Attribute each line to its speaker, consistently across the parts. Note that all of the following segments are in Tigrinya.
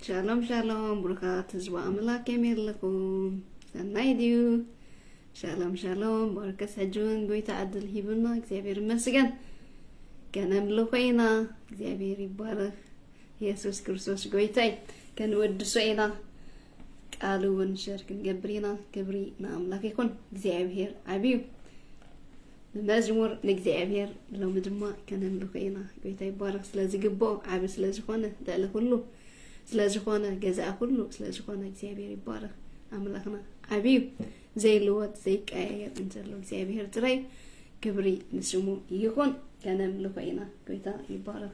Speaker 1: ሻሎም ሻሎም ብሩኻት ህዝቢ ኣምላክ ከመይ ኣለኹም ሰናይ ድዩ ሻሎም ሻሎም በርከስ ሕጂ እውን ጎይታ ዕድል ሂቡና እግዚኣብሔር ይመስገን ከነምሉ ኮይና እግዚኣብሔር ይባረክ የሱስ ክርስቶስ ጎይታይ ከንወድሶ ኢና ቃሉ እውን ሸር ክንገብር ኢና ክብሪ ንኣምላክ ይኹን እግዚኣብሔር ዓብዩ መዝሙር ንእግዚኣብሔር ሎሚ ድማ ከነምልኾ ኢና ጎይታ ይባረኽ ስለ ዝግብኦ ዓብ ስለ ዝኾነ ልዕሊ ኩሉ ስለ ዝኾነ ገዛእ ኩሉ ስለ ዝኾነ እግዚኣብሔር ይባረኽ ኣምላኽና ዓብዩ ዘይልወጥ ዘይቀያየር እንተሎ እግዚኣብሔር ጥራይ ክብሪ ንስሙ ይኹን ከነምልኾ ኢና ጎይታ ይባረኽ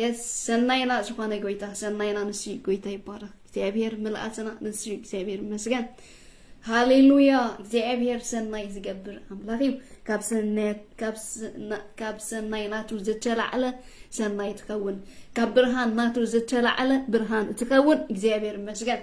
Speaker 1: የስ ሰናይና ዝኾነ ጎይታ ሰናይና ንሱ እዩ ጎይታ ይባረኽ እግዚኣብሔር ምልኣትና ንሱ እዩ እግዚኣብሔር ይመስገን ሃሌሉያ እግዚኣብሔር ሰናይ ዝገብር ኣምላኽ እዩ ካብ ሰናይ ናቱ ዝተላዕለ ሰናይ ትኸውን ካብ ብርሃን ናቱ ዝተላዕለ ብርሃን ትኸውን እግዚኣብሔር ይመስገን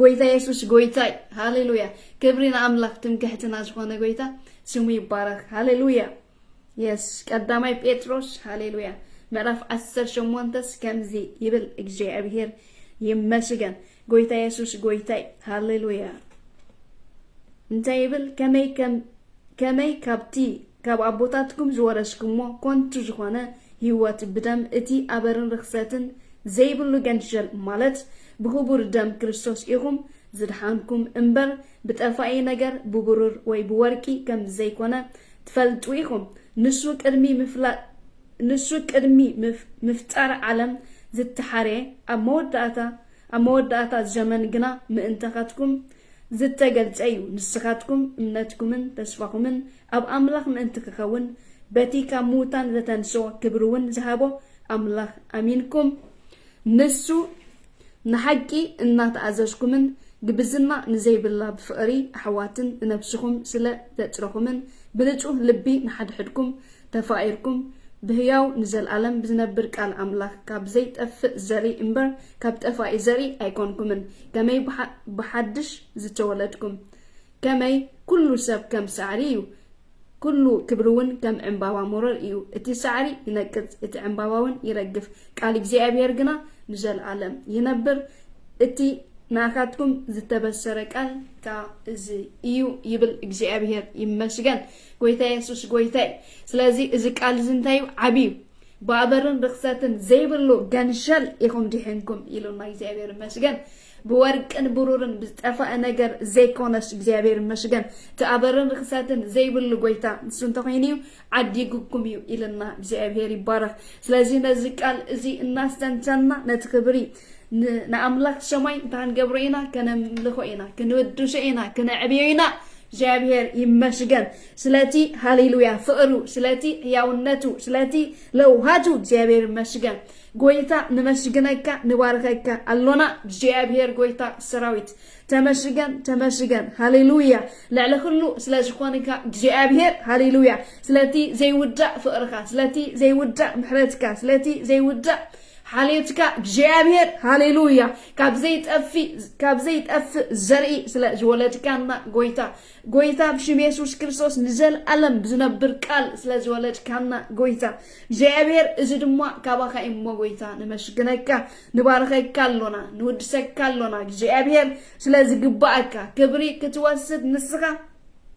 Speaker 1: ጎይታ የሱስ ጎይታ እዩ ሃሌሉያ ክብሪ ንኣምላኽ ትምክሕትና ዝኾነ ጎይታ ስሙ ይባረኽ ሃሌሉያ የስ ቀዳማይ ጴጥሮስ ሃሌሉያ ምዕራፍ 18ስ ከምዚ ይብል እግዚኣብሔር ይመስገን ጎይታ የሱስ ጎይታ እዩ ሃሌሉያ እንታይ ይብል ከመይ ከመይ ካብቲ ካብ ኣቦታትኩም ዝወረስኩሞ ኮንቱ ዝኾነ ሂወት ብደም እቲ ኣበርን ርኽሰትን ዘይብሉ ገንሸል ማለት ብኽቡር ደም ክርስቶስ ኢኹም ዝድሓንኩም እምበር ብጠፋኢ ነገር ብብሩር ወይ ብወርቂ ከም ዘይኮነ ትፈልጡ ኢኹም ንሱ ቅድሚ ምፍላጥ ንሱ ቅድሚ ምፍጣር ዓለም ዝተሓርየ ኣብ መወዳእታ ኣብ መወዳእታ እዚ ዘመን ግና ምእንተኻትኩም ዝተገልጸ እዩ፣ ንስኻትኩም እምነትኩምን ተስፋኹምን ኣብ ኣምላኽ ምእንቲ ክኸውን፣ በቲ ካብ ምዉታን ዘተንስኦ ክብሪውን ዝሃቦ ኣምላኽ ኣሚንኩም፣ ንሱ ንሓቂ እናተኣዘዝኩምን ግብዝና ንዘይብላ ብፍቕሪ ኣሕዋትን ንነፍስኹም ስለ ዘጽረኹምን ብንጹህ ልቢ ንሓድሕድኩም ተፋቂርኩም ብህያው ንዘልኣለም ብዝነብር ቃል ኣምላክ ካብ ዘይጠፍእ ዘርኢ እምበር ካብ ጠፋኢ ዘርኢ ኣይኮንኩምን ከመይ ብሓድሽ ዝተወለድኩም ከመይ ኩሉ ሰብ ከም ሳዕሪ እዩ ኩሉ ክብሪውን ከም ዕምባባ ሞረር እዩ እቲ ሳዕሪ ይነቅጽ እቲ ዕምባባውን ይረግፍ ቃል እግዚኣብሔር ግና ንዘልኣለም ይነብር እቲ ንኣካትኩም ዝተበሰረ ቃል ከኣ እዚ እዩ ይብል እግዚኣብሔር ይመስገን ጎይታ የሱስ ጎይታ እዩ ስለዚ እዚ ቃል እዚ እንታይ እዩ ዓቢ እዩ ባበርን ርክሰትን ዘይብሉ ገንሸል ኢኹም ዲሕንኩም ኢሉና እግዚኣብሔር ይመስገን ብወርቅን ብሩርን ብዝጠፋእ ነገር ዘይኮነስ እግዚኣብሔር ይመስገን ተኣበርን ርክሰትን ዘይብሉ ጎይታ ንሱ እንተኮይኑ እዩ ዓዲጉኩም እዩ ኢልና እግዚኣብሔር ይባረክ ስለዚ ነዚ ቃል እዚ እናስተንተና ነቲ ክብሪ ንኣምላኽ ሰማይ እንታይ ንገብሮ ኢና ከነምልኾ ኢና ክንውድሶ ኢና ክነዕብዮ ኢና እግዚኣብሔር ይመስገን ስለቲ ሃሌሉያ ፍቅሩ ስለቲ ሕያውነቱ ስለቲ ለውሃቱ እግዚኣብሔር ይመስገን ጎይታ ንመስግነካ ንባርኸካ ኣሎና እግዚኣብሔር ጎይታ ሰራዊት ተመስገን ተመስገን ሃሌሉያ ልዕሊ ኩሉ ስለ ዝኾንካ እግዚኣብሔር ሃሌሉያ ስለቲ ዘይውዳእ ፍቅርካ ስለቲ ዘይውዳእ ምሕረትካ ስለቲ ዘይውዳእ ሓልዮትካ እግዚኣብሔር ሃሌሉያ ካብ ዘይጠፍእ ካብ ዘይጠፍእ ዘርኢ ስለ ዝወለድካና ጎይታ ጎይታ ብሽም የሱስ ክርስቶስ ንዘለኣለም ብዝነብር ቃል ስለ ዝወለድካና ጎይታ እግዚኣብሔር እዚ ድማ ካባኻ እዩ እሞ ጎይታ ነመስግነካ ንባርኸካ ኣሎና ንውድሰካ ኣሎና እግዚኣብሔር ስለ ዝግባኣካ ክብሪ ክትወስድ ንስኻ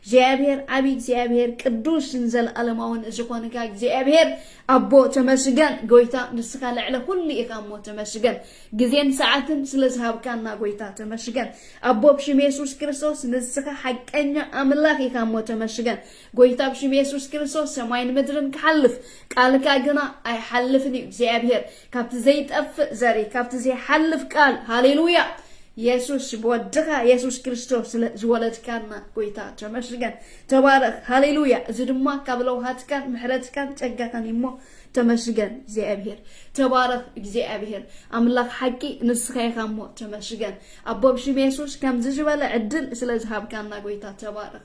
Speaker 1: እግዚኣብሔር ዓቢ እግዚኣብሔር ቅዱስን ዘለኣለማውን ዝኾንካ እግዚኣብሔር ኣቦ ተመስገን ጎይታ ንስኻ ልዕለ ኩሉ ኢኻ እሞ ተመስገን ግዜን ሰዓትን ስለ ዝሃብካና ጎይታ ተመስገን ኣቦ ብሽም የሱስ ክርስቶስ ንስኻ ሓቀኛ ኣምላኽ ኢኻ እሞ ተመስገን ጎይታ ብሽም የሱስ ክርስቶስ ሰማይን ምድርን ክሓልፍ ቃልካ ግና ኣይሓልፍን እዩ እግዚኣብሔር ካብቲ ዘይጠፍእ ዘርኢ ካብቲ ዘይሓልፍ ቃል ሃሌሉያ የሱስ ብወድኻ የሱስ ክርስቶስ ስለ ዝወለድካና ጎይታ ተመስገን ተባረኽ ሃሌሉያ እዚ ድማ ካብ ለውሃትካን ምሕረትካን ጸጋኻን እዩ እሞ ተመስገን እግዚኣብሔር ተባረኽ እግዚኣብሔር ኣምላኽ ሓቂ ንስኻ ኢኻ እሞ ተመስገን ኣቦብ ሽም የሱስ ከምዚ ዝበለ ዕድል ስለ ዝሃብካና ጎይታ ተባረኽ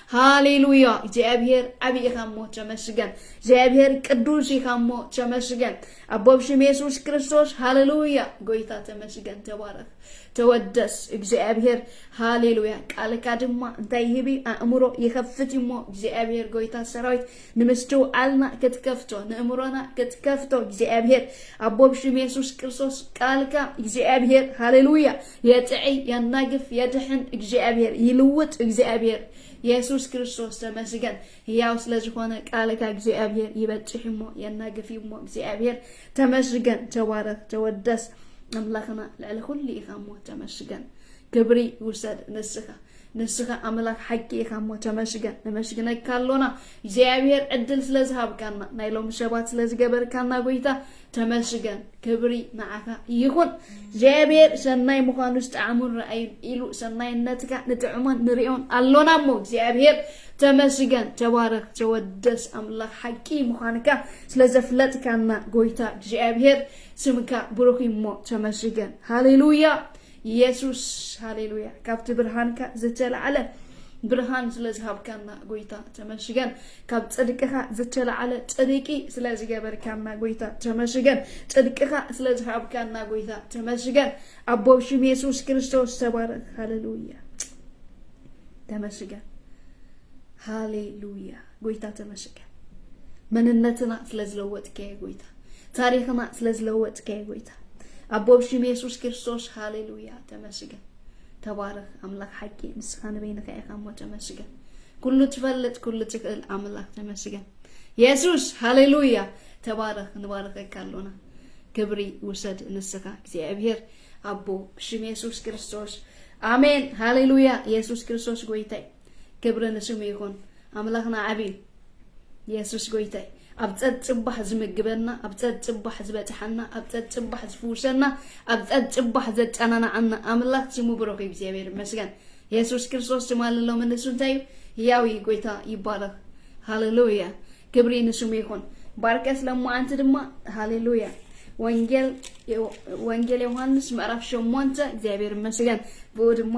Speaker 1: ሃሌሉያ እግዚኣብሔር ዓብይ ኢኻ እሞ ተመስገን እግዚኣብሔር ቅዱስ ኢኻ እሞ ተመስገን ኣቦ ብሽም የሱስ ክርስቶስ ሃሌሉያ ጎይታ ተመስገን ተባረኽ ተወደስ እግዚኣብሔር ሃሌሉያ ቃልካ ድማ እንታይ ይህብ ኣእምሮ ይኸፍት እሞ እግዚኣብሔር ጎይታ ሰራዊት ንምስትውዓልና ክትከፍቶ ንእምሮና ክትከፍቶ እግዚኣብሔር ኣቦ ብሽም የሱስ ክርስቶስ ቃልካ እግዚኣብሔር ሃሌሉያ የጥዕይ የናግፍ የድሕን እግዚኣብሔር ይልውጥ እግዚኣብሔር የሱስ ክርስቶስ ተመስገን ህያው ስለዝኾነ ቃልካ እግዚኣብሔር ይበጽሕ እሞ የናግፍ እሞ እግዚኣብሔር ተመስገን ተባረኽ ተወደስ ኣምላኽና ልዕሊ ኩሉ ኢኻ እሞ ተመስገን ክብሪ ውሰድ ንስኻ ንስኻ ኣምላኽ ሓቂ ኢኻ እሞ ተመስገን ነመስግነካ ኣሎና እግዚኣብሔር ዕድል ስለ ዝሃብካና ናይ ሎሚ ሰባት ስለ ዝገበርካና ጎይታ ተመስገን ክብሪ ንዓኻ ይኹን እግዚኣብሔር ሰናይ ምዃኑ ዝጠዓሙን ረኣዩን ኢሉ ሰናይነትካ ንጥዕሞን ንሪኦን ኣሎና እሞ እግዚኣብሔር ተመስገን ተባረክ ተወደስ ኣምላኽ ሓቂ ምዃንካ ስለ ዘፍለጥካና ጎይታ እግዚኣብሔር ስምካ ብሩኽ እሞ ተመስገን ሃሌሉያ ኢየሱስ ሃሌሉያ ካብቲ ብርሃንካ ዝተላዕለ ብርሃን ስለ ዝሃብካና ጎይታ ተመስገን ካብ ጽድቅኻ ዝተላዕለ ጽድቂ ስለ ዝገበርካና ጎይታ ተመስገን ጽድቅኻ ስለ ዝሃብካና ጎይታ ተመስገን ኣቦ ሽም የሱስ ክርስቶስ ተባረክ ሃሌሉያ ተመስገን ሃሌሉያ ጎይታ ተመስገን መንነትና ስለዝለወጥከየ ጎይታ ታሪክና ስለዝለወጥከየ ጎይታ ኣቦ ብሽም የሱስ ክርስቶስ ሃሌሉያ ተመስገን ተባረኽ ኣምላኽ ሓቂ ንስኻ ንበይንካ ኢኻ እሞ ተመስገን ኩሉ ትፈልጥ ኩሉ ትኽእል ኣምላኽ ተመስገን የሱስ ሃሌሉያ ተባረኽ ንባረኸካ ኣሎና ክብሪ ውሰድ ንስኻ እግዚኣብሔር ኣቦ ብሽም የሱስ ክርስቶስ ኣሜን ሃሌሉያ የሱስ ክርስቶስ ጎይታይ ክብሪ ንስሙ ይኹን ኣምላኽና ዓብዩ የሱስ ጎይታይ ኣብ ጸጽባሕ ዝምግበና ኣብ ጸጽባሕ ዝበጽሓና ኣብ ጸጽባሕ ዝፍውሰና ኣብ ጸጽባሕ ዘጸናናዓና ኣምላኽ ስሙ ብሩኽ እግዚኣብሔር ይመስገን የሱስ ክርስቶስ ትማሊ ሎሚ ንሱ እንታይ እዩ ያው ጎይታ ይባረኽ ሃሌሉያ ክብሪ ንስሙ ይኹን ባርከስ ለማዓንቲ ድማ ሃሌሉያ ወንጌል ወንጌል ዮሐንስ ምዕራፍ ሸሞንተ እግዚኣብሔር ይመስገን ብኡ ድማ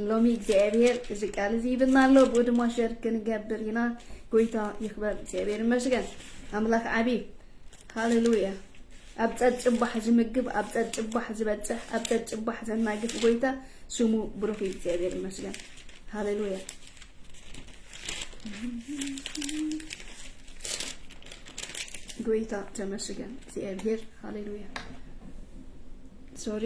Speaker 1: ሎሚ እግዚኣብሔር እዚ ቃል እዚ ይብልና ኣሎ ብኡ ድማ ሸር ክንገብር ኢና ጎይታ ይክበር እግዚኣብሔር ይመስገን ኣምላኽ ዓብዪ ሃሌሉያ ኣብ ጸብጽባሕ ዝምግብ ኣብ ጸብጽባሕ ዝበጽሕ ኣብ ጸብጽባሕ ዘናግፍ ጎይታ ስሙ ብሩኽ እዩ እግዚኣብሔር ይመስገን ሃሌሉያ ጎይታ ተመስገን እግዚኣብሔር ሃሌሉያ ሶሪ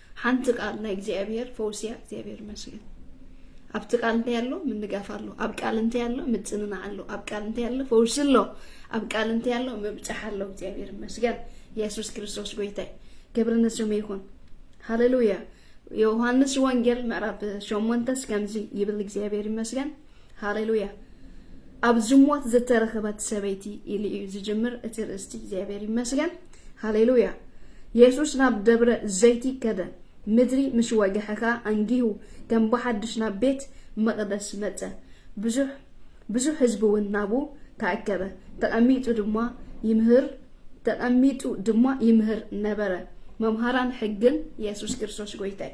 Speaker 1: ሓንቲ ቃል ናይ እግዚኣብሔር ፈውሲ እያ እግዚኣብሔር ይመስገን ኣብቲ ቃል እንታይ ኣሎ ምንጋፍ ኣሎ ኣብ ቃል እንታይ ኣሎ ምጽንናዕ ኣሎ ኣብ ቃል እንታይ ኣሎ ፈውሲ ኣሎ ኣብ ቃል እንታይ ኣሎ ምብጻሕ ኣሎ እግዚኣብሔር ይመስገን ኢየሱስ ክርስቶስ ጎይታይ ክብሪ ንስሙ ይኹን ሃሌሉያ ዮሐንስ ወንጌል ምዕራፍ ሸሞንተስ ከምዚ ይብል እግዚኣብሔር ይመስገን ሃሌሉያ ኣብ ዝሞት ዝተረኸበት ሰበይቲ ኢሉ እዩ ዝጅምር እቲ ርእስቲ እግዚኣብሔር ይመስገን ሃሌሉያ የሱስ ናብ ደብረ ዘይቲ ከደ ምድሪ ምስ ወግሐ ከዓ ኣንጊሁ ከም ብሓድሽ ናብ ቤት መቕደስ መፀ ብዙሕ ብዙሕ ህዝቢ እውን ናብኡ ተኣከበ ተቐሚጡ ድማ ይምህር ተቐሚጡ ድማ ይምህር ነበረ። መምሃራን ሕግን የሱስ ክርስቶስ ጐይታይ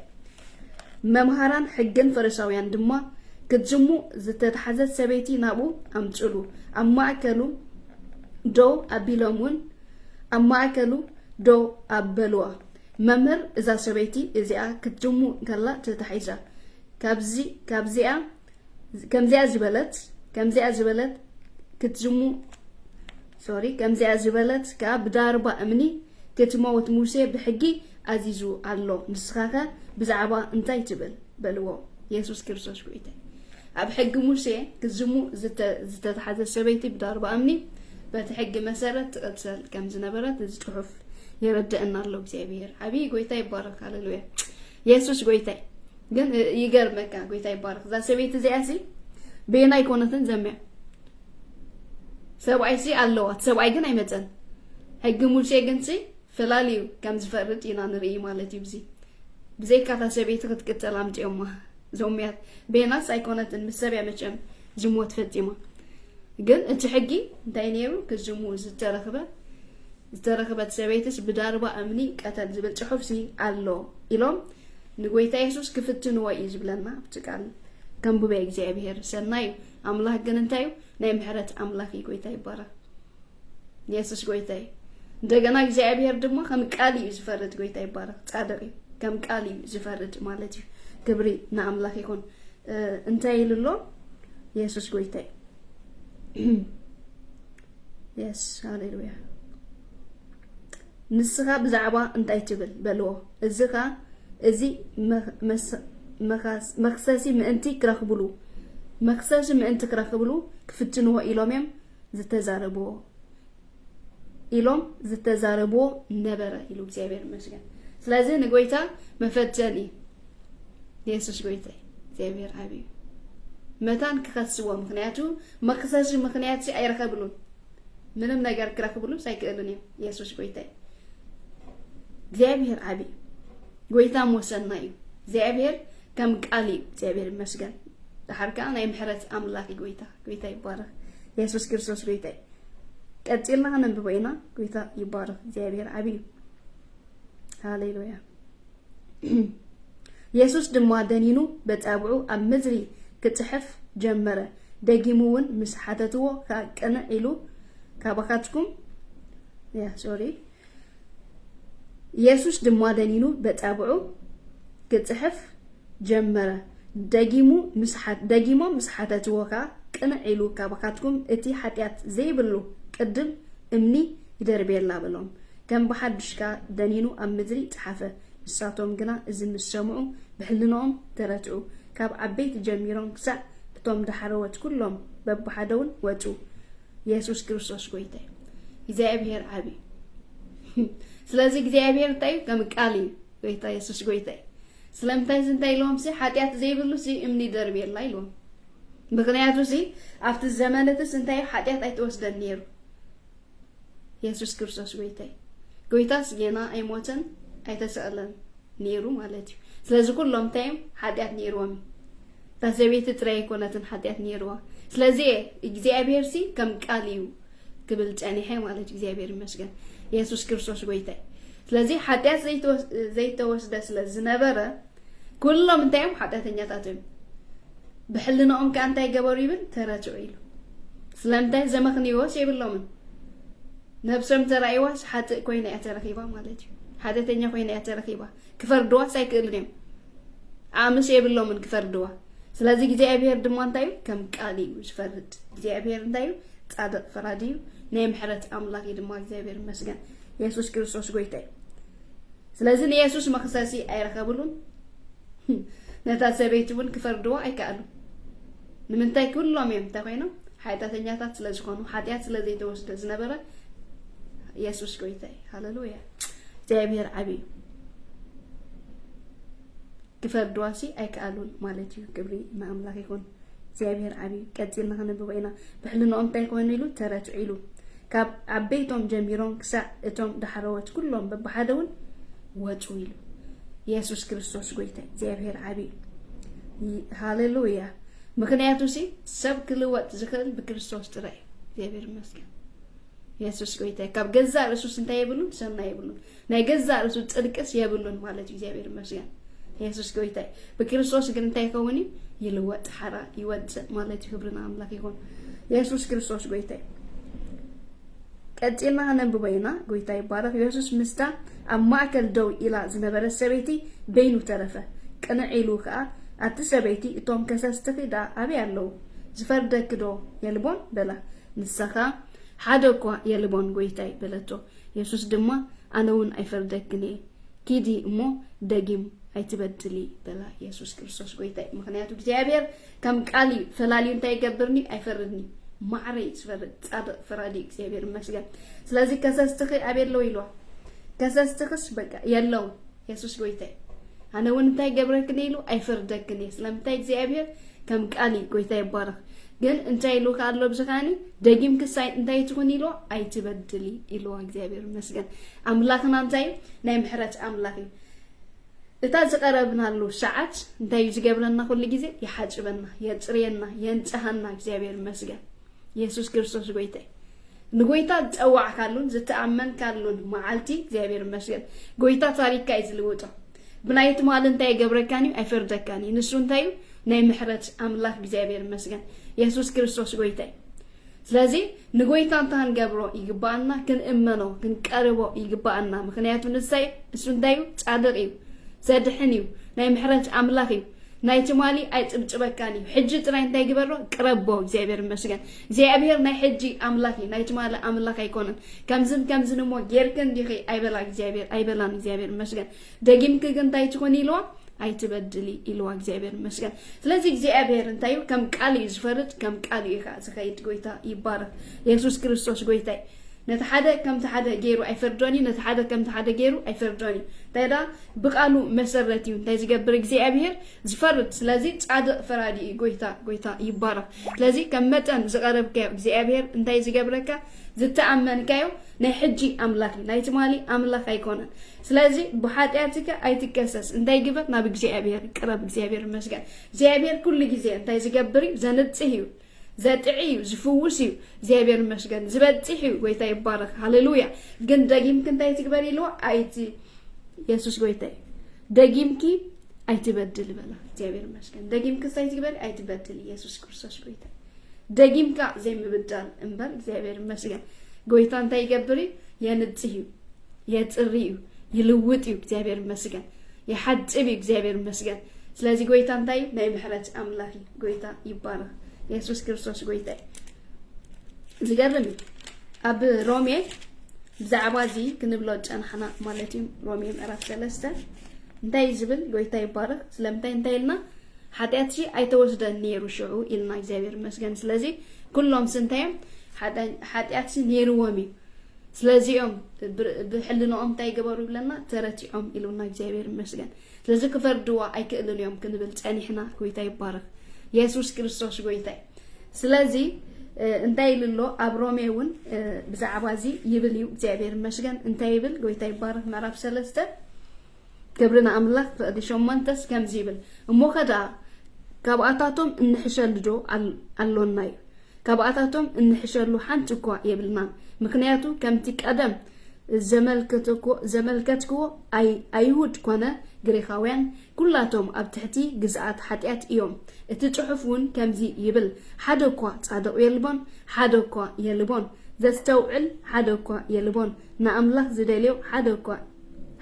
Speaker 1: መምሃራን ሕግን ፈሪሳውያን ድማ ክትዝሙ ዝተታሕዘት ሰበይቲ ናብኡ ኣምጽሉ ኣብ ማእከሉ ደው ኣቢሎም እውን ኣብ ማእከሉ ደው ኣበልዋ መምህር እዛ ሰበይቲ እዚኣ ክትዝሙ ከላ ተታሒዛ ካብዚ ካብዚኣ ከምዚኣ ዝበለት ከምዚኣ ዝበለት ክትዝሙ ሶሪ ከምዚኣ ዝበለት ከኣ ብዳርባ እምኒ ክትመውት ሙሴ ብሕጊ ኣዚዙ ኣሎ ንስኻኸ ብዛዕባ እንታይ ትብል በልዎ የሱስ ክርስቶስ ጎይታይ ኣብ ሕጊ ሙሴ ክዝሙ ዝተታሕዘ ሰበይቲ ብዳርባ እምኒ በቲ ሕጊ መሰረት ትቕትሰል ከም ዝነበረት እዚ ጽሑፍ የረድአና ኣሎ እግዚኣብሔር ዓብዪ ጎይታ ይባረክ ሃሌሉያ የሱስ ጎይታይ ግን ይገርመካ ጎይታ ይባረክ እዛ ሰበይቲ እዚኣ ሲ ቤና ኣይኮነትን ዘምያ ሰብኣይ ሲ ኣለዋት ሰብኣይ ግን ኣይመፀን ሕጊ ሙሴ ግን ሲ ፈላልዩ ከም ዝፈርድ ኢና ንርኢ ማለት እዩ ብዚ ብዘይካታ ሰበይቲ ክትቅፅል ኣምፅኦማ ዞምያት ቤናስ ኣይኮነትን ምስ ሰብያ መቸም ዝሞት ፈፂማ ግን እቲ ሕጊ እንታይ ነይሩ ክዝሙ ዝተረክበ ዝተረኽበት ሰበይትስ ብዳርባ እምኒ ቀተል ዝብል ጽሑፍሲ ኣሎ ኢሎም ንጎይታ የሱስ ክፍትንዎ እዩ ዝብለና ኣብቲ ቃል ከንብበ እግዚኣብሄር ሰናይ እዩ ኣምላኽ ግን እንታይ እዩ ናይ ምሕረት ኣምላኽ እዩ ጎይታ ይባረኽ የሱስ ጎይታ እዩ እንደገና እግዚኣብሄር ድማ ከም ቃል እዩ ዝፈርድ ጎይታ ይባረኽ ጻድቅ እዩ ከም ቃል እዩ ዝፈርድ ማለት እዩ ክብሪ ንኣምላኽ ይኹን እንታይ ኢሉ ኣሎ የሱስ ጎይታ እዩ የስ ሃሌሉያ ንስኻ ብዛዕባ እንታይ ትብል በልዎ እዚ ኸ እዚ መክሰሲ ምእንቲ ክረኽብሉ መክሰሲ ምእንቲ ክረኽብሉ ክፍትንዎ ኢሎም እዮም ዝተዛረብዎ ኢሎም ዝተዛረብዎ ነበረ ኢሉ እግዚኣብሔር ይመስገን ስለዚ ንጎይታ መፈተኒ የሱስ ጎይታ እግዚኣብሔር ዓብዩ መታን ክኸስዎ ምክንያቱ መክሰሲ ምክንያት ሲ ኣይረከብሉን ምንም ነገር ክረክብሉስ ኣይክእሉን እዮም የሱስ ጎይታይ እግዚኣብሔር ዓብይ ጎይታ ወሰና እዩ እግዚኣብሔር ከም ቃል እዩ እግዚኣብሔር ይመስገን ድሓር ከዓ ናይ ምሕረት ኣምላክ ጎይታ ጎይታ ይባረክ የሱስ ክርስቶስ ጎይታ እዩ ቀፂልና ከነንብቦ ኢና ጎይታ ይባረክ እግዚኣብሔር ዓብይ እዩ ሃሌሉያ የሱስ ድማ ደኒኑ በጻብዑ ኣብ ምድሪ ክጽሕፍ ጀመረ። ደጊሙ እውን ምስ ሓተትዎ ከኣ ቅንዕ ኢሉ ካባኻትኩም ሶሪ የሱስ ድማ ደኒኑ በጻብዑ ክጽሕፍ ጀመረ። ደጊሙ ደጊሞም ምስ ሓተትዎ ከኣ ቅንዕ ኢሉ ካባኻትኩም እቲ ሓጢኣት ዘይብሉ ቅድም እምኒ ይደርብየላ በሎም። ከም ብሓድሽ ከኣ ደኒኑ ኣብ ምድሪ ጸሓፈ። ንሳቶም ግና እዚ ምስ ሰምዑ ብሕልንኦም ተረትዑ፣ ካብ ዓበይቲ ጀሚሮም ክሳዕ እቶም ዳሕረዎት ኩሎም በብሓደውን ወጹ። የሱስ ክርስቶስ ጎይታ እዩ። እግዚኣብሄር ዓቢ እዩ። ስለዚ እግዚኣብሄር እንታይ እዩ? ከም ቃል እዩ። ጎይታ የሱስ ጎይታ እዩ። ስለምንታይ እዚ እንታይ ኢልዎም ሲ ሓጢኣት ዘይብሉ ሲ እምኒ ይደርብየላ ኢልዎም። ምክንያቱ ሲ ኣብቲ ዘመን እትስ እንታይ እዩ ሓጢኣት ኣይተወስደን ነይሩ። የሱስ ክርስቶስ ጎይታይ ጎይታስ ጌና ኣይሞተን ኣይተሰቕለን ነይሩ ማለት እዩ ስለዚ ኩሎም እንታይ እዮም ሓጢኣት ነይርዎም እዩ እታ ሰበይቲ ጥራይ ኣይኮነትን ሓጢኣት ነይርዋ ስለዚ እግዚኣብሄር ሲ ከም ቃል እዩ ክብል ጸኒሐ ማለት እግዚኣብሄር ይመስገን የሱስ ክርስቶስ ጎይታይ ስለዚ ሓጢኣት ዘይተወስደ ስለ ዝነበረ ኩሎም እንታይ እዮም ሓጢኣተኛታት እዮም ብሕልንኦም ከዓ እንታይ ገበሩ ይብል ተረትዑ ኢሉ ስለምንታይ ዘመኽንዮስ የብሎምን ነብሶም ተራእይዋስ ሓጥእ ኮይና እያ ተረኺባ ማለት እዩ ሓጢኣተኛ ኮይና እያ ተረኺባ ክፈርድዋስ ኣይክእሉን እዮም ኣምስ የብሎምን ክፈርድዋ ስለዚ እግዚኣብሄር ድማ እንታይ እዩ ከም ቃል እዩ ዝፈርድ እግዚኣብሄር እንታይ እዩ ጻድቕ ፈራዲ እዩ ናይ ምሕረት ኣምላኽ እዩ ድማ እግዚኣብሄር ይመስገን የሱስ ክርስቶስ ጎይታ እዩ ስለዚ ንየሱስ መኽሰሲ ኣይረኸብሉን ነታ ሰበይቲ እውን ክፈርድዎ ኣይከኣሉ ንምንታይ ኩሎም እዮም እንታይ ኮይኖም ሓጢኣተኛታት ስለ ዝኾኑ ሓጢኣት ስለ ዘይተወስደ ዝነበረ የሱስ ጎይታ እዩ ሃለሉያ እግዚኣብሔር ዓብዩ ክፈርድዋሲ ኣይከኣሉን ማለት እዩ ክብሪ ንኣምላኽ ይኹን እግዚኣብሔር ዓብዪ ቀፂልና ከነብቦ ኢና ብሕልንኦም እንታይ ኮኑ ኢሉ ተረትዑ ኢሉ ካብ ዓበይቶም ጀሚሮም ክሳዕ እቶም ዳሕረዎት ኩሎም በብሓደ እውን ወፁ ኢሉ የሱስ ክርስቶስ ጎይታ እግዚኣብሔር ዓብዪ ሃሌሉያ ምክንያቱ ሲ ሰብ ክልወጥ ዝኽእል ብክርስቶስ ጥራይ እዩ እግዚኣብሔር ይመስገን የሱስ ጎይታ ካብ ገዛ ርእሱስ እንታይ የብሉን ሰናይ የብሉን ናይ ገዛ ርእሱ ጽድቅስ የብሉን ማለት እዩ እግዚኣብሔር ይመስገን የሱስ ጎይታይ ብክርስቶስ ግን እንታይ ይኸውን እዩ ይልወጥ ሓራ ይወፅእ ማለት እዩ ክብርና ኣምላክ ይኹን የሱስ ክርስቶስ ጎይታይ ቀፂልና ነንብቦ ኢና ጎይታ ይባረክ የሱስ ምስታ ኣብ ማእከል ደው ኢላ ዝነበረት ሰበይቲ በይኑ ተረፈ ቅንዕ ኢሉ ከዓ ኣብቲ ሰበይቲ እቶም ከሰስትኺ ደኣ ኣበይ ኣለዉ ዝፈርደኪ ዶ የልቦን በላ ንሳኻ ሓደ እኳ የልቦን ጎይታይ በለቶ የሱስ ድማ ኣነውን ኣይፈርደክን እየ ኪዲ እሞ ደጊም ኣይትበድሊ በላ የሱስ ክርስቶስ ጎይታ እዩ ምክንያቱ እግዚኣብሔር ከም ቃል እዩ ፈላልዩ እንታይ ይገብርኒ ኣይፈርድኒ ማዕረ እዩ ዝፈርድ ጻድቅ ፈራዲ እግዚኣብሔር ይመስገን ስለዚ ከሰስትኺ ኣበየ ኣለዉ ኢልዋ ከሰስትኽስ በቃ የለው የሱስ ጎይታይ ኣነ እውን እንታይ ገብረክን ኢሉ ኣይፈርደክን እየ ስለምንታይ እግዚኣብሄር ከም ቃል እዩ ጎይታ ይባረኽ ግን እንታይ ኢሉ ከ ኣሎ ብዚ ከዓኒ ደጊም ክሳይ እንታይ ትኹን ኢሎ ኣይትበድሊ ኢልዋ እግዚኣብሄር ይመስገን ኣምላኽና እንታይ እዩ ናይ ምሕረት ኣምላኽ እዩ እታ ዝቀረብናሉ ሰዓት እንታይ እዩ ዝገብረና ኩሉ ግዜ ይሓፅበና የፅርየና የንፅሃና እግዚኣብሄር ይመስገን የሱስ ክርስቶስ ጎይታ እዩ ንጎይታ ዝጸዋዕካሉን ዝተኣመንካሉን መዓልቲ እግዚኣብሔር ይመስገን ጎይታ ታሪክካ እዩ ዝልውጦ ብናይ ትማሊ እንታይ ይገብረካን እዩ ኣይፈርደካን እዩ ንሱ እንታይ እዩ ናይ ምሕረት ኣምላክ እግዚኣብሔር ይመስገን የሱስ ክርስቶስ ጎይታ እዩ ስለዚ ንጎይታ እንታይ ክንገብሮ ይግባኣና ክንእመኖ ክንቀርቦ ይግባኣና ምክንያቱ ንሳይ እሱ እንታይ እዩ ጻድቅ እዩ ዘድሕን እዩ ናይ ምሕረት ኣምላክ እዩ ናይ ትማሊ ኣይጽብጽበካን እዩ ሕጂ ጥራይ እንታይ ግበሮ ቅረቦ እግዚኣብሔር ይመስገን እግዚኣብሔር ናይ ሕጂ ኣምላክ እዩ ናይ ትማሊ ኣምላክ ኣይኮነን ከምዝን ከምዝን እሞ ጌርክ እንዲኺ ኣይበላ እግዚኣብሔር ኣይበላን እግዚኣብሔር ይመስገን ደጊምክ ግን እንታይ ትኹን ኢልዋ ኣይትበድሊ ኢልዋ እግዚኣብሔር ይመስገን ስለዚ እግዚኣብሔር እንታይ እዩ ከም ቃል እዩ ዝፈርድ ከም ቃል እዩ ከዓ ዝኸይድ ጎይታ ይባረክ የሱስ ክርስቶስ ጎይታ እዩ ነቲ ሓደ ከምቲ ሓደ ገይሩ ኣይፈርዶን እዩ ነቲ ሓደ ከምቲ ሓደ ገይሩ ኣይፈርዶን እዩ እንታይ ብቃሉ መሰረት እዩ እንታይ ዝገብር እግዚኣብሄር ዝፈርድ ስለዚ ጻድቅ ፈራዲ እዩ ጎይታ ጎይታ ይባረክ ስለዚ ከም መጠን ዝቀረብካዮ እግዚኣብሄር እንታይ ዝገብረካ ዝተኣመንካዮ ናይ ሕጂ ኣምላክ እዩ ናይ ትማሊ ኣምላክ ኣይኮነን ስለዚ ብሓጢኣትካ ኣይትከሰስ እንታይ ግበር ናብ እግዚኣብሄር ቅረብ እግዚኣብሄር መስገን እግዚኣብሄር ኩሉ ግዜ እንታይ ዝገብር እዩ ዘንጽህ እዩ ዘጥዒ እዩ ዝፍውስ እዩ እግዚኣብሔር ይመስገን ዝበፅሕ እዩ ጎይታ ይባረክ ሃሌሉያ ግን ደጊምኪ እንታይ ትግበሪ ኢልዋ ኣይቲ የሱስ ጎይታ እዩ ደጊምኪ ኣይትበድል በላ እግዚኣብሔር ይመስገን ደጊምኪ እንታይ ትግበሪ ኣይትበድል ኢየሱስ ክርስቶስ ጎይታ ደጊምካ ዘይምብዳል እምበር እግዚኣብሔር ይመስገን ጎይታ እንታይ ይገብር እዩ የንፅህ እዩ የፅሪ እዩ ይልውጥ እዩ እግዚኣብሔር ይመስገን ይሓፅብ እዩ እግዚኣብሔር ይመስገን ስለዚ ጎይታ እንታይ እዩ ናይ ምሕረት ኣምላኽ እዩ ጎይታ ይባረኽ የሱስ ክርስቶስ ጎይታ እዩ። ዝገርም እዩ። ኣብ ሮሜ ብዛዕባ እዚ ክንብሎ ጨናሕና ማለት እዩ። ሮሜ ምዕራፍ ሰለስተ እንታይ እዩ ዝብል? ጎይታ ይባረኽ። ስለምንታይ እንታይ ኢልና ሓጢኣት ሲ ኣይተወስደን ነይሩ ሽዑ ኢልና እግዚኣብሔር ይመስገን። ስለዚ ኩሎም ሲ እንታይ እዮም ሓጢኣት ሲ ነይርዎም እዩ። ስለዚኦም ብሕልንኦም እንታይ ገበሩ ይብለና ተረቲዖም ኢሉና እግዚኣብሔር ይመስገን። ስለዚ ክፈርድዋ ኣይክእልን እዮም ክንብል ጸኒሕና ጎይታ ይባረክ የሱስ ክርስቶስ ጎይታ እዩ ስለዚ እንታይ ኢሉ ኣሎ ኣብ ሮሜ እውን ብዛዕባ እዚ ይብል እዩ እግዚኣብሔር ይመስገን እንታይ ይብል ጎይታ ይባረክ ምዕራፍ ሰለስተ ክብሪ ንኣምላክ ፍቕዲ ሸሞንተስ ከምዚ ይብል እሞ ከደኣ ካብኣታቶም እንሕሸሉ ዶ ኣሎና እዩ ካብኣታቶም እንሕሸሉ ሓንቲ እኳ የብልናን ምክንያቱ ከምቲ ቀደም ዘመልከትክዎ ኣይሁድ ኮነ ግሪኻውያን ኩላቶም ኣብ ትሕቲ ግዝኣት ሓጢኣት እዮም። እቲ ጽሑፍ ውን ከምዚ ይብል ሓደ እኳ ጻድቕ የልቦን ሓደ እኳ የልቦን ዘስተውዕል ሓደ እኳ የልቦን ንኣምላኽ ዝደልዮ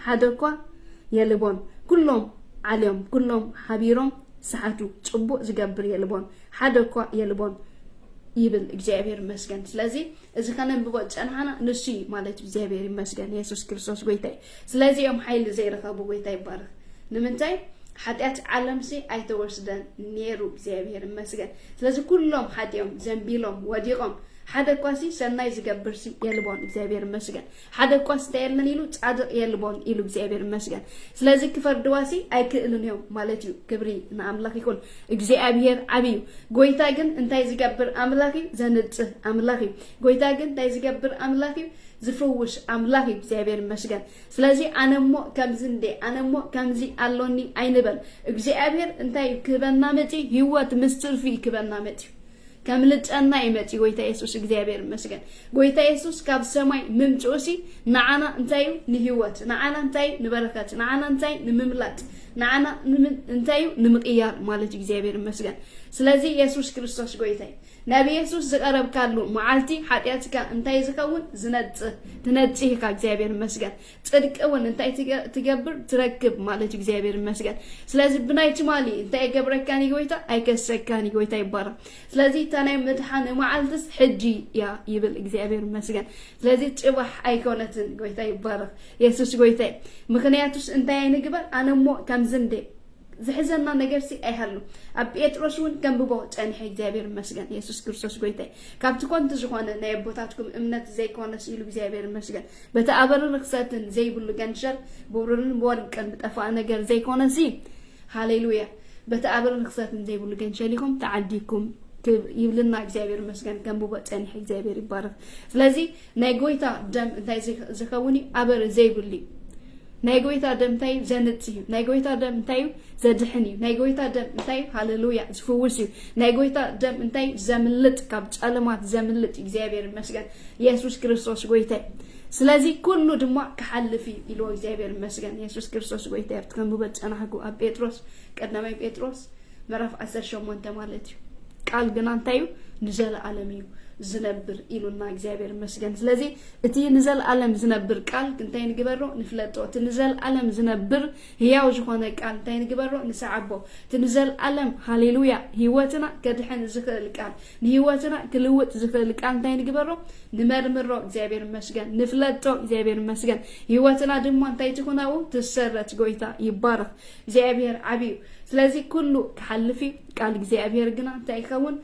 Speaker 1: ሓደ እኳ የልቦን ኩሎም ዓልዮም ኩሎም ሓቢሮም ሰሓቱ ጽቡቕ ዝገብር የልቦን ሓደ እኳ የልቦን ይብል እግዚኣብሄር ይመስገን ስለዚ እዚ ከነንብቦ ዝጸናሕና ንሱ እዩ ማለት እዩ እግዚኣብሔር ይመስገን የሱስ ክርስቶስ ጎይታ እዩ ስለዚ እዮም ሓይሊ ዘይረኸቡ ጎይታ ይባረኽ ንምንታይ ሓጢኣት ዓለምሲ ኣይተወስደን ነይሩ እግዚኣብሔር ይመስገን ስለዚ ኩሎም ሓጢኦም ዘንቢሎም ወዲቖም ሓደ እኳሲ ሰናይ ዝገብርሲ የልቦን እግዚኣብሔር ይመስገን ሓደ እኳስ እንተየለን ኢሉ ጻድቅ የልቦን ኢሉ እግዚኣብሔር ይመስገን ስለዚ ክፈርድዋሲ ኣይክእልን እዮም ማለት እዩ ክብሪ ንኣምላኽ ይኹን እግዚኣብሔር ዓብ እዩ ጎይታ ግን እንታይ ዝገብር ኣምላኽ እዩ ዘንጽህ ኣምላኽ እዩ ጎይታ ግን እንታይ ዝገብር ኣምላኽ እዩ ዝፍውስ ኣምላኽ እዩ እግዚኣብሔር ይመስገን ስለዚ ኣነ እሞ ከምዚ እንደ ኣነ እሞ ከምዚ ኣሎኒ ኣይንበል እግዚኣብሔር እንታይ ክህበና መፅዩ ህይወት ምስ ትርፊ ክህበና መፅዩ ከምልጨና እዩ መጺኡ ጎይታ የሱስ እግዚኣብሔር ይመስገን ጎይታ የሱስ ካብ ሰማይ ምምጭኡ ሲ ንዓና እንታይ እዩ ንህይወት ንዓና እንታይ እዩ ንበረከት ንዓና እንታይ ንምምላጥ ንዓና እንታይ እዩ ንምቅያር ማለት እዩ እግዚኣብሔር ይመስገን ስለዚ የሱስ ክርስቶስ ጎይታይ ናብ የሱስ ዝቀረብካሉ መዓልቲ ሓጢኣትካ እንታይ ዝኸውን ዝነጽህ ትነጽህ ኢካ እግዚኣብሔር ይመስገን ጽድቂ እውን እንታይ ትገብር ትረክብ ማለት እዩ እግዚኣብሔር ይመስገን ስለዚ ብናይ ትማሊ እንታይ የገብረካን እዩ ጎይታ ኣይከሰካን እዩ ጎይታ ይባረክ ስለዚ እታ ናይ ምድሓን መዓልትስ ሕጂ እያ ይብል እግዚኣብሔር ይመስገን ስለዚ ጽባሕ ኣይኮነትን ጎይታ ይባረክ የሱስ ጎይታ እዩ ምክንያቱስ እንታይ ኣይንግበር ኣነ እሞ ከምዚ እንደ ዝሕዘና ነገር ሲ ኣይሃሉ ኣብ ጴጥሮስ እውን ከንብቦ ጸኒሐ እግዚኣብሔር ይመስገን የሱስ ክርስቶስ ጎይታ ካብቲ ኮንቲ ዝኾነ ናይ ኣቦታትኩም እምነት ዘይኮነስ ኢሉ እግዚኣብሔር ይመስገን በቲ ኣበርን ርክሰትን ዘይብሉ ገንሸል ብሩርን ብወርቅን ብጠፋእ ነገር ዘይኮነሲ ሃሌሉያ በቲ ኣበርን ርክሰትን ዘይብሉ ገንሸል ኢኹም ተዓዲግኩም ይብልና እግዚኣብሔር መስገን ከምብቦ ጸኒሕ እግዚኣብሔር ይባረክ ስለዚ ናይ ጎይታ ደም እንታይ ዝኸውን እዩ ኣበር ዘይብሉ እዩ ናይ ጎይታ ደም እንታይ እዩ ዘንጽ እዩ ናይ ጎይታ ደም እንታይ እዩ ዘድሕን እዩ ናይ ጎይታ ደም እንታይ እዩ ሃሌሉያ ዝፍውስ እዩ ናይ ጎይታ ደም እንታይ እዩ ዘምልጥ ካብ ጨለማት ዘምልጥ እግዚኣብሔር ይመስገን የሱስ ክርስቶስ ጎይታይ ስለዚ ኩሉ ድማ ክሓልፍ እዩ ኢሉ እግዚኣብሔር ይመስገን የሱስ ክርስቶስ ጎይታ ኣብቲ ከምብበ ፀናሕጉ ኣብ ጴጥሮስ ቀዳማይ ጴጥሮስ ምዕራፍ 18 ማለት እዩ ቃል ግና እንታይ እዩ ንዘለኣለም እዩ ዝነብር ኢሉና እግዚኣብሔር ይመስገን ስለዚ እቲ ንዘለኣለም ዝነብር ቃል እንታይ ንግበሮ ንፍለጦ እቲ ንዘለኣለም ዝነብር ህያው ዝኾነ ቃል እንታይ ንግበሮ ንስዓቦ እቲ ንዘልኣለም ሃሌሉያ ህይወትና ከድሕን ዝኽእል ቃል ንህይወትና ክልውጥ ዝኽእል ቃል እንታይ ንግበሮ ንመርምሮ እግዚኣብሔር ይመስገን ንፍለጦ እግዚኣብሔር ይመስገን ህይወትና ድማ እንታይ ትኹን ኣብኡ ትሰረት ጎይታ ይባረኽ እግዚኣብሔር ዓብዩ ስለዚ ኩሉ ክሓልፍ እዩ ቃል እግዚኣብሔር ግና እንታይ ይኸውን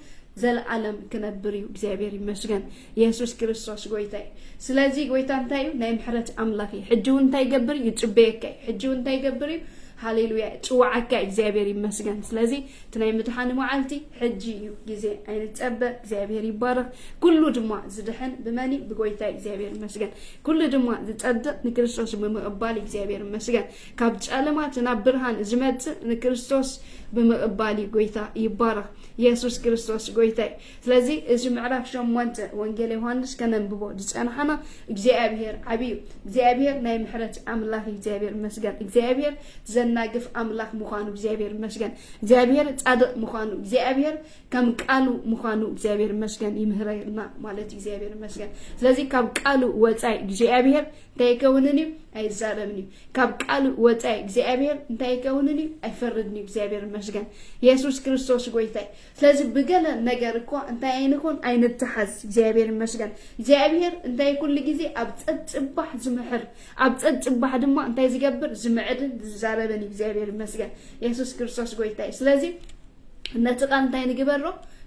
Speaker 1: ዘልኣለም ክነብር እዩ እግዚኣብሔር ይመስገን የሱስ ክርስቶስ ጎይታ እዩ ስለዚ ጎይታ እንታይ እዩ ናይ ምሕረት ኣምላኽ እዩ ሕጂ እውን እንታይ ይገብር እዩ ይጽበየካ እዩ ሕጂ እውን እንታይ ይገብር እዩ ሃሌሉያ ጽዋዓካ እግዚኣብሔር ይመስገን ስለዚ እቲ ናይ ምድሓን መዓልቲ ሕጂ እዩ ግዜ ኣይንጸበ እግዚኣብሔር ይባረኽ ኩሉ ድማ ዝድሕን ብመን እዩ ብጎይታ እግዚኣብሔር ይመስገን ኩሉ ድማ ዝጸድቕ ንክርስቶስ ብምቕባል እግዚኣብሔር ይመስገን ካብ ጨለማት ናብ ብርሃን ዝመጽእ ንክርስቶስ ብምቕባል እዩ ጎይታ ይባረኽ የሱስ ክርስቶስ ጎይታ እዩ ስለዚ እዚ ምዕራፍ ሸሞንተ ወንጌል ዮሃንስ ከነንብቦ ዝጸናሕና እግዚኣብሄር ዓቢ እዩ። እግዚኣብሄር ናይ ምሕረት ኣምላኽ እግዚኣብሄር ይመስገን። እግዚኣብሄር ዘናግፍ ኣምላኽ ምዃኑ እግዚኣብሄር ይመስገን። እግዚኣብሄር ጻድቕ ምዃኑ እግዚኣብሄር ከም ቃሉ ምዃኑ እግዚኣብሄር ይመስገን ይምህረና ማለት እግዚኣብሄር ይመስገን። ስለዚ ካብ ቃሉ ወጻኢ እግዚኣብሄር እንታይ ይከውንን እዩ ኣይዛረብን እዩ። ካብ ቃሉ ወጻኢ እግዚኣብሄር እንታይ ይከውንን እዩ ኣይፈርድን እዩ። እግዚኣብሄር ይመስገን። የሱስ ክርስቶስ ጎይታይ ስለዚ ብገለ ነገር እኳ እንታይ ኣይንኹን ኣይንተሓዝ እግዚኣብሔር ይመስገን እግዚኣብሔር እንታይ ኩሉ ግዜ ኣብ ጸጽባሕ ዝምሕር ኣብ ጸጽባሕ ድማ እንታይ ዝገብር ዝምዕድን ዝዛረብን እዩ እግዚኣብሔር ይመስገን የሱስ ክርስቶስ ጎይታ እዩ ስለዚ ነቲ ቃል እንታይ ንግበሮ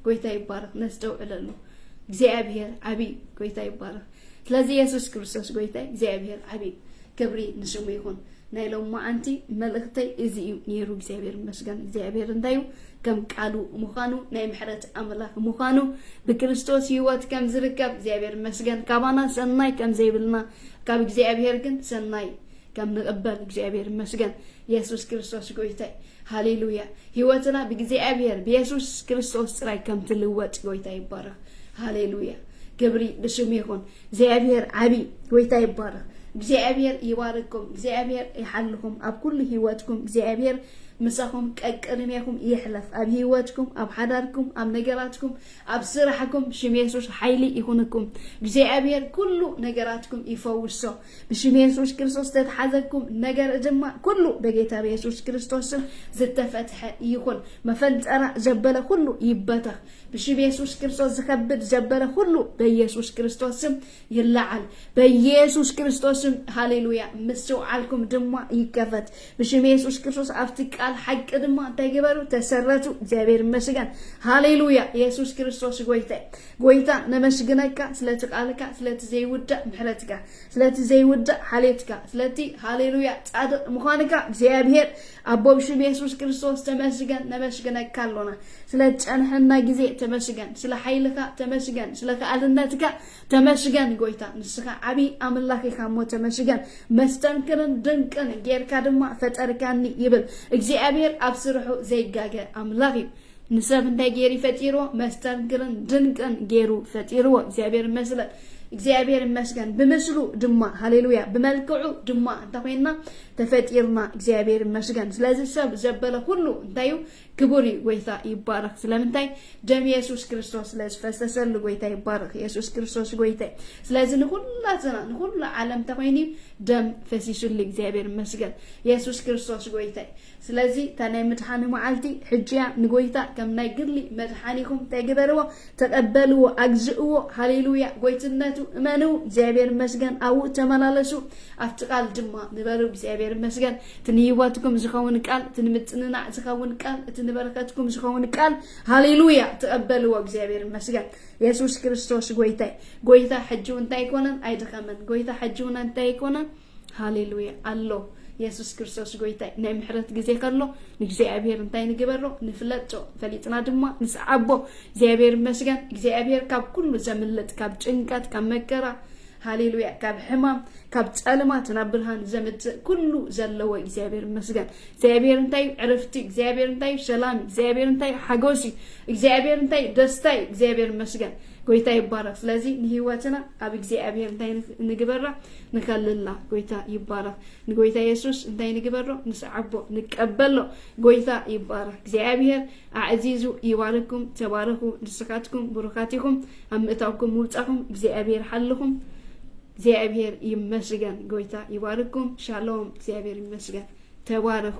Speaker 1: ጎይታ ይባረኽ ነስተውዕለሉ እግዚኣብሔር ዓብይ ጎይታ ይባረኽ ስለዚ የሱስ ክርስቶስ ጎይታይ እግዚኣብሔር ዓቢ ክብሪ ንስሙ ይኹን። ናይ ሎማዓንቲ መልእኽተይ እዚ እዩ ነይሩ። እግዚኣብሔር ይመስገን። እግዚኣብሔር እንታይ እዩ? ከም ቃሉ ምዃኑ ናይ ምሕረት ኣምላኽ ምዃኑ ብክርስቶስ ህይወት ከም ዝርከብ እግዚኣብሔር ይመስገን። ካባና ሰናይ ከም ዘይብልና ካብ እግዚኣብሔር ግን ሰናይ ከም ንቕበል እግዚኣብሔር ይመስገን። የሱስ ክርስቶስ ጎይታይ ሃሌሉያ። ህይወትና ብእግዚኣብሔር ብየሱስ ክርስቶስ ጥራይ ከም ትልወጥ ጎይታ ይባረኽ። ሃሌሉያ ክብሪ ንስሙ ይኹን። እግዚኣብሔር ዓቢ ጎይታ ይባረኽ። እግዚኣብሔር ይባርኩም። እግዚኣብሔር ይሓልኹም ኣብ ኩሉ ህይወትኩም። እግዚኣብሔር ምሳኹም ቀቅድሜኹም ይሕለፍ ኣብ ህይወትኩም፣ ኣብ ሓዳርኩም፣ ኣብ ነገራትኩም፣ ኣብ ስራሕኩም ሽም የሱስ ሓይሊ ይኹንኩም። እግዚኣብሔር ኩሉ ነገራትኩም ይፈውሶ። ብሽም የሱስ ክርስቶስ ዝተትሓዘኩም ነገር ድማ ኩሉ በጌታ ብየሱስ ክርስቶስም ዝተፈትሐ ይኹን። መፈንጠራ ዘበለ ኩሉ ይበተኽ። ብሽም የሱስ ክርስቶስ ዝከብድ ዘበረ ሁሉ በየሱስ ክርስቶስ ስም ይለዓል። በየሱስ ክርስቶስ ስም ሃሌሉያ። ምስትውዓልኩም ድማ ይከፈት ብሽም የሱስ ክርስቶስ። ኣብቲ ቃል ሓቂ ድማ እንታይ ግበሩ? ተሰረቱ። እግዚኣብሔር ይመስገን። ሃሌሉያ። የሱስ ክርስቶስ ጎይታ ጎይታ ነመስግነካ ስለቲ ቃልካ፣ ስለቲ ዘይውዳእ ምሕረትካ፣ ስለቲ ዘይውዳእ ሓሌትካ፣ ስለቲ ሃሌሉያ ጻድቅ ምዃንካ እግዚኣብሔር ኣቦ ብሽም የሱስ ክርስቶስ ተመስገን ነመስግነካ ኣሎና ስለ ዝጸንሐና ግዜ ተመስገን ስለ ሓይልካ ተመስገን ስለ ከኣልነትካ ተመስገን ጎይታ ንስኻ ዓቢ ኣምላኽ ኢኻ እሞ ተመስገን መስተንክርን ድንቅን ጌርካ ድማ ፈጠርካኒ ይብል እግዚኣብሔር ኣብ ስርሑ ዘይጋገ ኣምላኽ እዩ ንሰብ እንታይ ገይሩ ፈጢርዎ መስተንክርን ድንቅን ገይሩ ፈጢርዎ እግዚኣብሔር ይመስለን እግዚኣብሔር ይመስገን ብምስሉ ድማ ሃሌሉያ ብመልክዑ ድማ እንተኮይንና ተፈጢርና እግዚኣብሔር ይመስገን። ስለዚ ሰብ ዘበለ ሁሉ እንታይ እዩ ክቡር እዩ። ጎይታ ይባረክ። ስለምንታይ ደም የሱስ ክርስቶስ ስለዝፈሰሰሉ ጎይታ ይባረክ። የሱስ ክርስቶስ ጎይታ እዩ። ስለዚ ንኩላትና ንኩሉ ዓለም ተኮይኑ ደም ፈሲሱሉ እግዚኣብሔር ይመስገን። የሱስ ክርስቶስ ጎይታ እዩ። ስለዚ እታ ናይ ምድሓኑ መዓልቲ ሕጂ እያ፣ ንጎይታ ከም ናይ ግሊ መድሓኒኹም እንታይ ግበርዎ ተቀበልዎ ኣግዝእዎ ሃሌሉያ ጎይትነቱ እመንው እግዚኣብሔር ይመስገን ኣብኡ ተመላለሱ ኣብቲ ቃል ድማ ንበሩ እግዚኣብሔር ይመስገን እቲ ንህይወትኩም ዝኸውን ቃል እቲ ንምጽንናዕ ዝኸውን ቃል እቲ ንበረከትኩም ዝኸውን ቃል ሃሌሉያ ተቀበልዎ እግዚኣብሔር ይመስገን የሱስ ክርስቶስ ጎይታይ ጎይታ ሕጂ እንታይ ኣይኮነን ኣይደኸመን ጎይታ ሕጂ እውን እንታይ ኣይኮነን ሃሌሉያ ኣሎ የሱስ ክርስቶስ ጎይታይ ናይ ምሕረት ግዜ ከሎ ንእግዚኣብሔር እንታይ ንግበሮ ንፍለጦ ፈሊጥና ድማ ንስዓቦ እግዚኣብሔር ይመስገን እግዚኣብሔር ካብ ኩሉ ዘምልጥ ካብ ጭንቀት ካብ መከራ ሃሌሉያ ካብ ሕማም ካብ ጸልማት ናብ ብርሃን ዘምጽእ ኩሉ ዘለዎ እግዚኣብሔር ይመስገን እግዚኣብሔር እንታይ እዩ ዕረፍቲ እግዚኣብሔር እንታይ እዩ ሰላም እግዚኣብሔር እንታይ እዩ ሓጎስ እዩ እግዚኣብሔር እንታይ እዩ ደስታ እዩ እግዚኣብሔር ይመስገን ጎይታ ይባረክ ስለዚ ንህይወትና ኣብ እግዚኣብሔር እንታይ ንግበራ ንከልላ ጎይታ ይባረክ ንጎይታ የሱስ እንታይ ንግበሮ ንስዓቦ ንቀበሎ ጎይታ ይባረክ እግዚኣብሔር ኣዕዚዙ ይባርኩም ተባረኩ ንስካትኩም ብሩካት ኢኹም ኣብ ምእታውኩም ምውፃኹም እግዚኣብሔር ሓልኹም እግዚኣብሔር ይመስገን ጎይታ ይባርኩም ሻሎም እግዚኣብሔር ይመስገን ተባረኩ